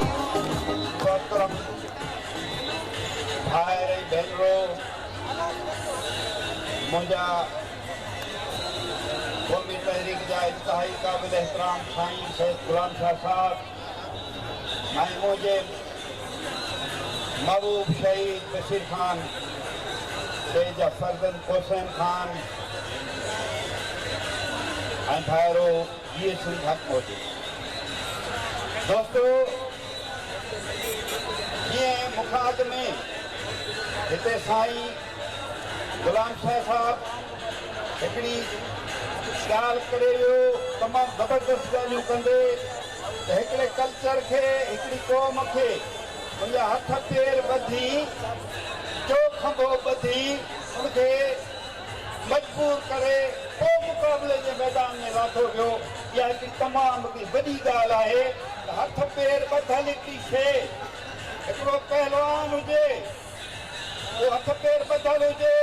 محترم ڀائر ۽ ڀينرو منهنجا قومي تحريڪ جا انتهائي قابل احترام سائين سيد غلام شاهه صاحب ۽ منهنجي محبوب شهيد بشير خان شهيد جا فرزند حسين خان ۽ ڀائرو جي ايڇ ھن حق پهچي دوستو جيئن مون کان اڳ ۾ هتي سائين غلام شاھ صاحب هڪڙي ڳالھ ڪري ويو تمام زبردست ڳالهيون ڪندي ته هڪڙي ڪلچر کي هڪڙي قوم کي ان جا هٿ پير ٻڌي چو کنڀو ٻڌي ان کي مجبور ڪري پوء مقابلي جي ميدان ۾ لاٿو ويو، اها هڪڙي تمام هڪڙي وڏي ڳالهه آهي ته هٿ پير ٻڌل هڪڙي شيء هڪڙو پهلوان هجي اهو هٿ پير ٻڌل هجي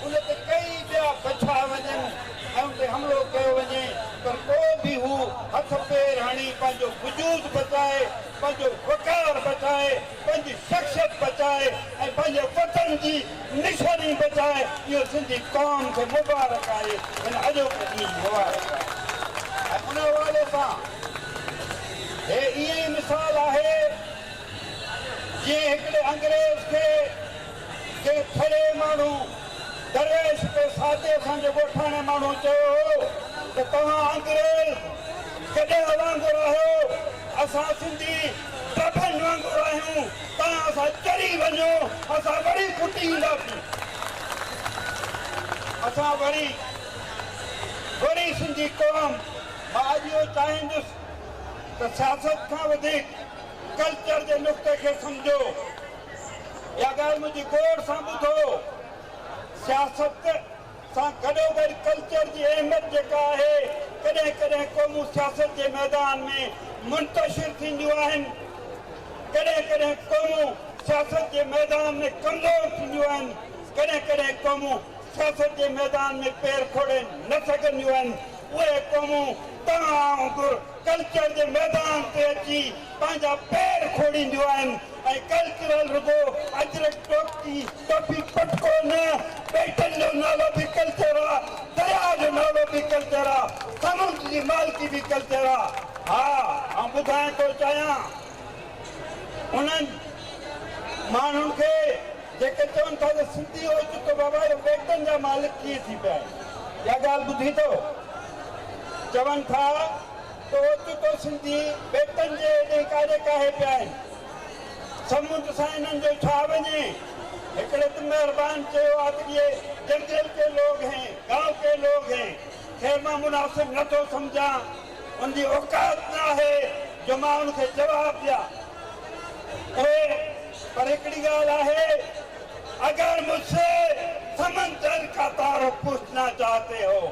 ان تي ڪيئي ٻيا بڇا وڃن ۽ ان تي حملو ڪيو وڃي پر پوء به هو هٿ پير هڻي پنهنجو وجود بچائي پنهنجو وقار بچائي پنهنجي شخصيت بچائي ۽ پنهنجي وطن جي نشاني بچائي اهو سنڌي قوم کي مبارڪ آهي هن اڄوڪي ڏينهن جي مبارڪ آهي ۽ ان حوالي سان هي ائين ئي مثال آهي جيئن هڪڙي انگريز کي ڪنهن ڦڙي ماڻهو درويش پي ساچي اسان جي ڳوٺاڻي ماڻهو چيو هو ته توهان انگريز گڏهه وانگر آهيو اسان سنڌي ٽپن وانگر آهيون، توهان اسان چري وڃو، اسان وري ڦٽي اينداسين. اسان وري، وري سنڌي قوم. مان اڄ اهو چاهيندس ته سياست کان وڌيڪ ڪلچر جي نقطي کي سمجهو. اها ڳالهه منهنجي غور سان ٻڌو، سياست. سان گڏوگڏ ڪلچر جي اهميت جيڪا آهي ڪڏهن ڪڏهن قومون سياست جي ميدان ۾ منتشر ٿينديون آهن ڪڏهن ڪڏهن قومون سياست جي ميدان ۾ ڪمزور ٿينديون آهن ڪڏهن ڪڏهن قومون سياست جي ميدان ۾ پير کوڙي نه سگهنديون آهن اهي قومون توهان وانگر ڪلچر جي ميدان تي اچي پنهنجا پير کوڙينديون آهن ۽ ڪلچرل رڳو اجرڪ ٽوڪي ٽوپي پٽڪو نه، ٻيٽن جو نالو به ڪلچر آ، درياء جو نالو به ڪلچر آ، سمنڊ جي مالڪي به ڪلچر آ. ها آئون ٻڌائڻ ٿو چاهيان انهن ماڻهن کي جيڪي چون ٿا ته سنڌي هوء چون ته بابا اهي ٻيٽن جا مالڪ ڪيئن ٿي پيا آهن. اها ڳالهه ٻڌي ٿو چون ٿا. ته اوچتو سنڌي ٻيٽن جي ايڏي ڪاري ڪاهي پيا آهن، سمنڊ سان انهن جو ڇا وڃي؟ هڪڙي ته مهربان چيو آت ڪي جنگل ڪي لوگ هين، گائون ڪي لوگ هين، خير مان مناسب نه ٿو سمجهان، ان جي اوقات نه آهي جو مان ان کي جواب ڏيان. پر پر هڪڙي ڳالهه آهي، اگر مجھ سي سمندر ڪا تعارف پوڇنا چاهتي هو.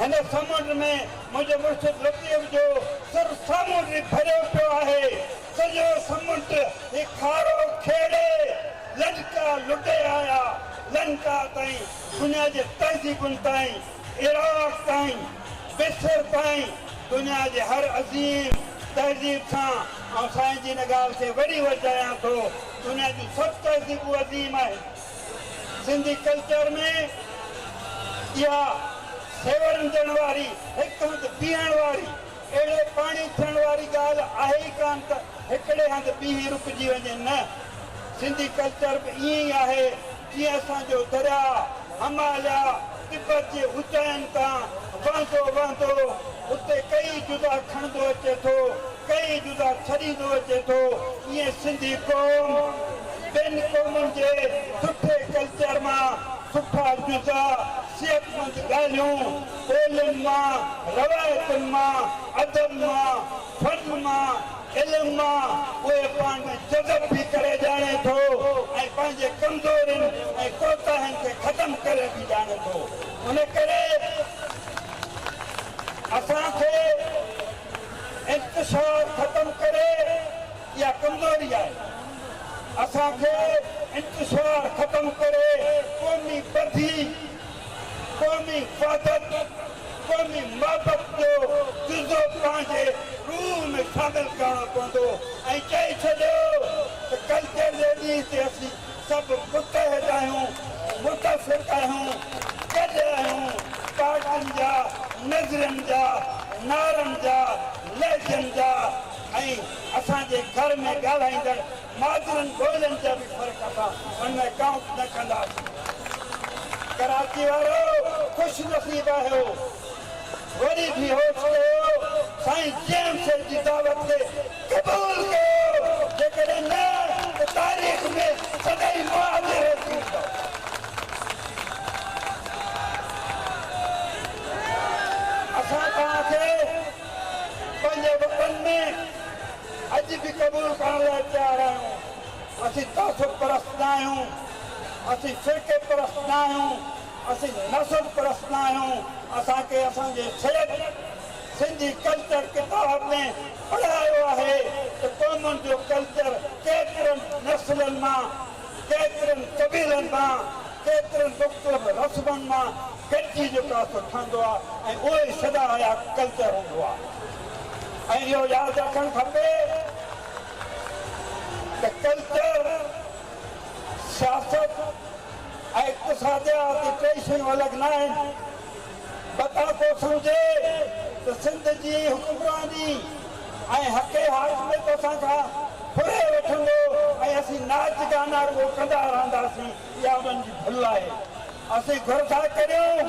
هن سمنڊ ۾ منهنجي مرشد لطيف جو سر سامونڊ ري ڀريو پيو آهي. سڄو سمنڊ هي کارو کيڙي لنڪا لڏي آيا. لنڪا تائين، دنيا جي تهذيبن تائين، عراق تائين، مصر تائين، دنيا جي هر عظيم تهذيب سان آئون سائين جي ان ڳالهه کي وري ورجايان ٿو. دنيا جون سڀ تهذيبون عظيم آهن. سنڌي ڪلچر ۾ اها سيورندڙ واري هڪ هنڌ بيهڻ واري اهڙي پاڻي ٿيڻ واري ڳالهه آهي ئي ڪانه ته هڪڙي هنڌ بيهي رڪجي وڃي نه سنڌي ڪلچر به ائين ئي آهي جيئن اسان جو درياء هماليا تبت جي اوچائين تان وهندو وهندو اتي ڪيئي جدا کڻندو اچي ٿو ڪئين جدا ڇڏيندو اچي ٿو ايئن سنڌي قوم ٻين قومن جي سٺي ڪلچر مان سٺا جزا، صحتمند ڳالهيون، ٻولين مان، روايتن مان، ادب مان، فن مان، علم مان اهي پاڻ ۾ جذب به ڪري ڄاڻي ٿو ۽ پنهنجي ڪمزورين ۽ ڪوتاهين کي ختم ڪري به ڄاڻي ٿو ان ڪري اسان کي انتشار ختم ڪري اها ڪمزوري آهي اسان کي انتشار ختم ڪري قومي ٻڌي قومي وحدت قومي محبت جو جزو پنهنجي روح ۾ شامل ڪرڻو پوندو ۽ چئي ڇڏيو ته ڪلچر ليڊيز تي اسين سڀ متحد آهيون، متفق آهيون، گڏ آهيون، پارٽين جا، نظرين جا، نعرن جا، لهجن جا ۽ اسان جي گهر ۾ ڳالهائيندڙ مادرين ٻولين جا به فرق اسان ان ۾ ڪائونٽ نه ڪنداسين. ڪراچي وارو خوش نصيب آهيو. وري به هوش ڪيو، سائين جيئن سر جي دعوت کي قبول ڪيو، جيڪڏهن نه ته تاريخ ۾ سدائين مهاجر رهجي ويندؤ. اسان توهان کي پنهنجي وطن ۾ اڄ به قبول ڪرڻ لاء تيار آهيون. اسين تعصب پرست نه آهيون، اسين فرقي پرست نه آهيون. اسين نسل پرست نه آهيون، اسان کي اسان جي سيد سنڌي ڪلچر ڪتاب ۾ پڙهايو آهي ته قومن جو ڪلچر ڪيترن نسلن مان، ڪيترن قبيلن مان، ڪيترن مختلف رسمن مان گڏجي جيڪو اصل ٺهندو آهي ۽ اهو ئي سدا حيات ڪلچر هوندو آهي ۽ اهو ياد رکڻ کپي ته ڪلچر سياست ۽ اقتصاديات جي ٽئي شيون الڳ نه آهن. بدان ڪو سمجهي ته سنڌ جي حڪمراني ۽ حق حاڪميت اسان کان ڦري وٺندو ۽ اسين ناچ گانا رڳو ڪندا رهنداسين اها انهن جي ڀل آهي. اسين گهر ٿا ڪريون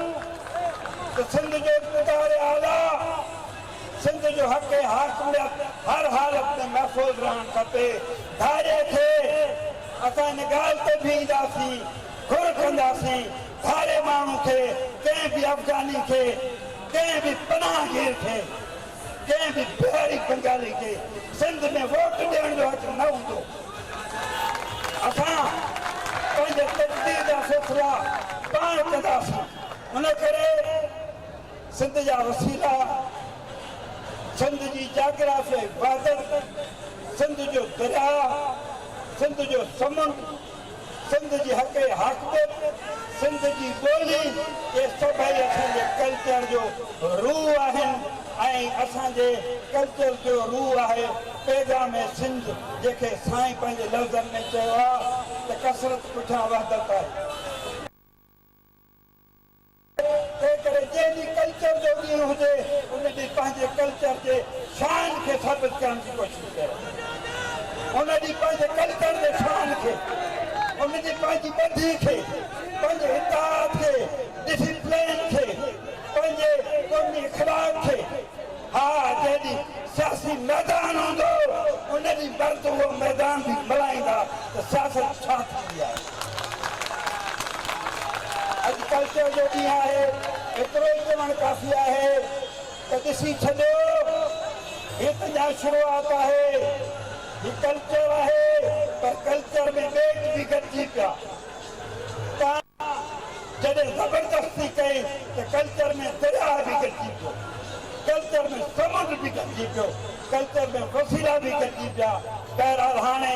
ته سنڌ جو اقتدار اعليٰ. سنڌ جو حق ۽ حاڪميت هر حالت ۾ محفوظ رهڻ کپي، ڌاڙي کي اسان ان ڳالهه تي بيهنداسين، گهر ڪنداسين، ڌاڙي ماڻهو کي، ڪنهن به افغاني کي، ڪنهن به پناهه گير کي، ڪنهن به بهاري بنگالي کي سنڌ ۾ ووٽ ڏيڻ جو حق نه هوندو، اسان پنهنجي تقدير جا فيصلا پاڻ ڪنداسين، ان ڪري. سنڌ جا وسيلا، سنڌ جي جاگرافيائي بارڊر، سنڌ جو درياء، سنڌ جو سمنڊ، سنڌ جي حقي حاڪميت، سنڌ جي ٻولي، اهي سڀئي اسان جي ڪلچر جو روح آهن ۽ اسان جي ڪلچر جو روح آهي پيغام سنڌ جنهن کي سائين پنهنجي لفظن ۾ چيو آهي ته ڪثرت پٺيان وحدت آهي. تنهنڪري جنهن جي ڪلچر جو ڏينهن هجي ان ڏينهن پنهنجي ڪلچر جي شان کي ثابت ڪرڻ جي ڪوشش ڪيو ان ڏينهن پنهنجي ڪلچر جي شان کي ان ڏينهن پنهنجي ٻڌي کي پنهنجي اتحاد کي ڊسپلين کي پنهنجي قومي اخلاق کي ها جنهن ڏينهن سياسي ميدان هوندو ان ڏينهن مرد اهو ميدان به ملهائيندا ته سياست ڇا ٿيندي آهي. اڄ ڪلچر جو ڏينهن آهي ايترو ئي چوڻ ڪافي آهي ته ڏسي ڇڏيو هي ته اڃا شروعات آهي هي ڪلچر آهي پر ڪلچر ۾ ٻيٽ به گڏجي پيا تان جڏهن زبردستي ڪئي ته ڪلچر ۾ درياء به گڏجي پيو ڪلچر ۾ سمنڊ به گڏجي پيو ڪلچر ۾ وسيلا به گڏجي پيا بهرحال هاڻي